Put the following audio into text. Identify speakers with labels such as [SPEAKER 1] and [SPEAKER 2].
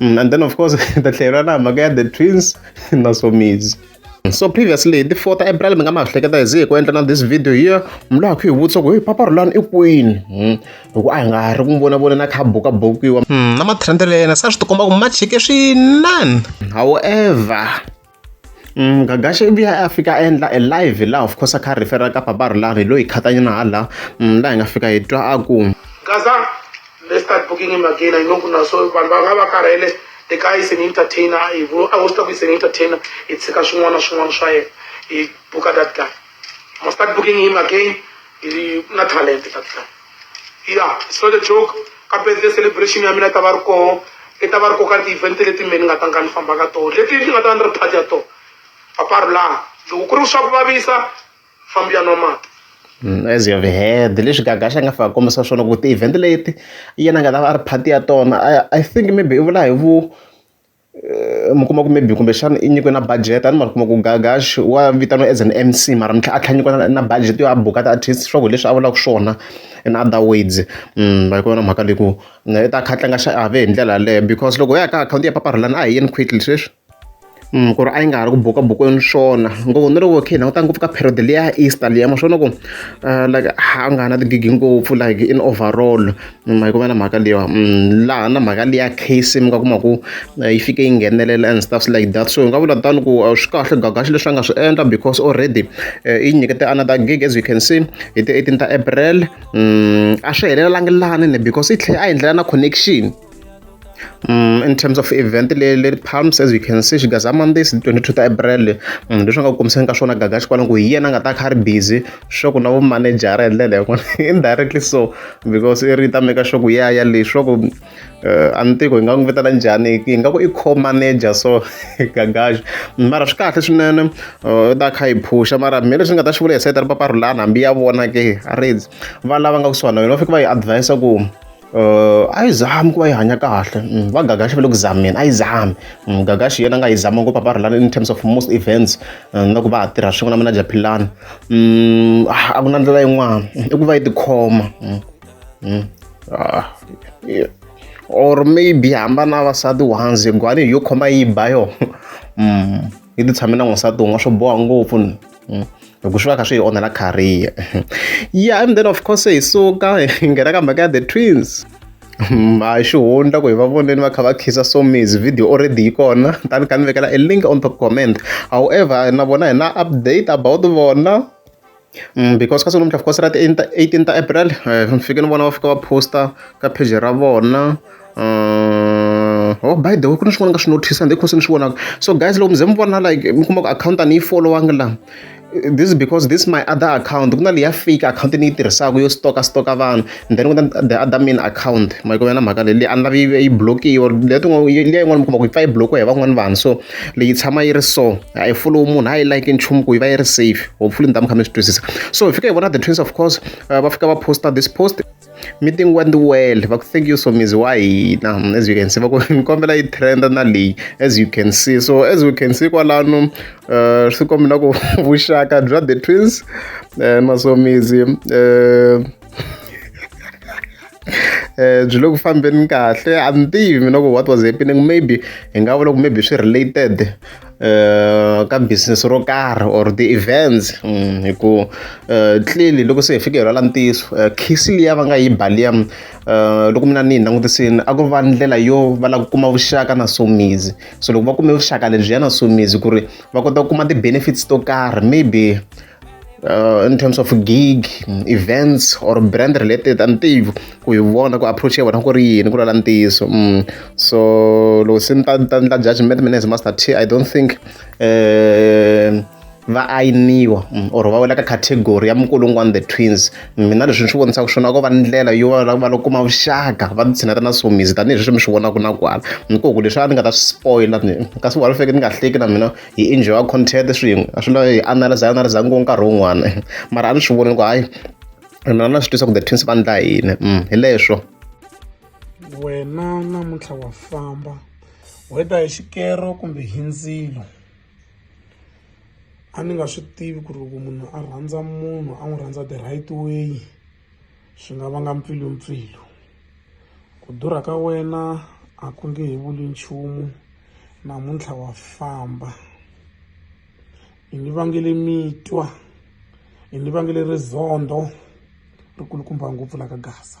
[SPEAKER 1] mm, and then of course ta tlhela na mhaka ya the twins na somizi so previously the 4 ta april mi nga ma hleketa hi zi ku endla na this video here mi laha ku hi vutisa ku hi papa rolani i kwini hmm. hi ku a hi nga ha ri ku n'wi vonavona na kha buka bukiwa hmm, na matrendele yena se a swi tikomba ku ma chike swinani however Gaga xi vuya a fika a endla e live hi laha of course a kha a refer-a ka Papa Rhulani hi lo hi khatanyana hala laha hi nga fika hi twa a ku Gaza,
[SPEAKER 2] let's start booking him again. I know kuna so vanhu va nga va karhele. The guy is an entertainer. I will I will start with an entertainer. Hi tshika swin'wana na swin'wana swa yena. Hi booka that guy. Must start booking him again. Hi na talent that guy. ya solo joke ka birthday celebration ya mina yi ta va ri koho i ta va ri koho ka ti-event leti mina ni nga ta nga ni famba ka tona leti ni nga ta va ni ri part ya tona paparulana loko ku ri swa ku vavisa fambi ya nwa mati mm, as you've
[SPEAKER 1] heard leswi gaga xa nga fika kombisa swona ku ti-event leti yena nga ta va a ri part ya tona i think maybe i vula hi vu eh, mi kuma ku maybe kumbexana i nyikiwe na budget a ni ma kuma ku gagash wa vitaniwa as an mc mara mi tlhela a tlhela nyikiwa na budget yo a buka ti-artist swa ku leswi a vulaka swona in other words mm, va yi kona mhaka leyi ku i ta kha tlanga xa ave hi ndlela yaleyo because loko ya ka akhawunti ya paparhelana a hi yeni quickly sweswi Mm, ku ri a yi nga ha ri ku buka bukweni swona ngopfu ni loko khe languta ngopfu ka period leya easter leya ma swona ku eh, like a nga ha na tigigi ngopfu like in overall ma yi kuma na mhaka leyi mm, laha na mhaka leyi ya case mi nga kuma ku eh, yi fike yi nghenelela and stuffs like that so hi nga vula tani ku eh, swi kahle gagaxi leswi a nga swi endla because already eh, yi nyikete another gig as you can see hi ti 18 ta april mm, a swi helelangi lani ne because yi tlhela a endlela na connection Mm, in terms of event le le palms as you can see she does on this 22 ta april mm, leswi nga ku kombiseni ka swona gagaxi kwalong ku hi yena nga ta kha ri busy sure ku na vo manager hi ndlela yin'wana indirectly so because i ri ta make sure ku ya ya le sure ku eh, a ni tiko hi nga n'wi vitana njhani hi nga ku i co manager so gagaxi mm, mara swi kahle swinene eh, i ta kha yi phusha mara mina leswi ni nga ta xi vula hi sayita ri paparulana hambi ya vona ke a ri va lava nga kusuhana yona va fike va yi advise ku a yi zami ku va yi hanya kahle va Gagashi va le ku zameni a yi zami Gagashi yena a nga yi zama ngopfu apart lani in terms of most events na ku va a tirha swin'we na manager Philani a ku na ndlela yin'wana i ku va yi tikhoma or maybe hamba na vasati wanzi nghwani hi yo khoma yi ba yo yi ti tshame na n'wansati wun'we swo boha ngopfu. Mm. loko swi va kha swi hi onhela career yeah and then of course hi suka hi nghena ka mhaka ya the twins mm, hayi xi hundla ku hi va voneni va kha va khisa so mis video already yi kona tani ka ni vekela a link on top comment however na vona hi na update about vona mm, because ka solomuhla of course ra ti-eighteen ta april eh, ni fike ni vona va fika va posta ka page ra vona oh by the way ku na swin'wana nga swi notice and ekhosi ni swi vonaka so guys loko mi ze mi vona like mi kuma ku akhawunti a ni yi followanga laha this is because this my other account ku na leya fake account ni yi tirhisaka yo stoka stoka vanhu then ku na the other main account ma yi na mhaka leyi leyi a ni lavi yi blokiwa leya tin'wana leya yin'wana mi kuma ku yi pfa yi blokiwa hi van'wana vanhu so leyi tshama yi ri so a yi follow munhu a yi like nchumu ku yi va yi ri safe hopefully ni ta mi kha mi swi twisisa so hi fika hi vona the twins of course uh, va fika va posta this post meeting went well va ku thank you so mizi wa hina as you can see va ku ni kombela yi trenda na leyi as you can see so as you can see kwalano uh, swi kombela ku vuxaka bya the twins uh, na so mizi uh, eh byi le ku fambeni kahle a ni tivi mina ku what was happening maybe hi nga vula ku maybe swi related ka business ro karhi or ti-events hi ku clearly loko se hi fika hi lwela ntiyiso case liya va nga yi ba liya loko mina ni yi langutisini a ku va ndlela yo va la ku kuma vuxaka na Somizi so loko va kume vuxaka lebyiya na Somizi ku ri va kota ku kuma ti-benefits to karhi maybe. uh, in terms of gig events or brand related a ni tivi ku hi vona ku approach ya vona ku ri yini ku lala ntiyiso mm. so loko se ni ta ta ndla judgment mina as master t i don't think uh, va ayiniwa mm, or va wela ka category ya mukulungwana the twins mina leswi ni swi vonisaka swona ko va ndlela yo va lo kuma vuxaka va titshineta na somizi tanihileswi mi swi vonaka na kwala nkoku leswi a ni nga ta swi spoila kasi wa lufeke ni nga hleki na mina hi enjoy content swin'we a swi lavi hi analyze hi analyze ngo nkarhi wun'wana mara a ni swi voni loko hayi mina na swi twisa ku the twins va ndla yini mm, hi leswo
[SPEAKER 2] wena namuntlha wa famba whetha hi xikero kumbe hi ndzilo a ni nga swi tivi ku ri loko munhu a rhandza munhu a n'wi rhandza the right way swi nga vanga mpfilumpfilu ku durha ka wena a ku nge he vuli nchumu namuntlha wa famba i ni vangele mitwa i ni vangele rizondo ri kulukumba ngopfu la ka gaza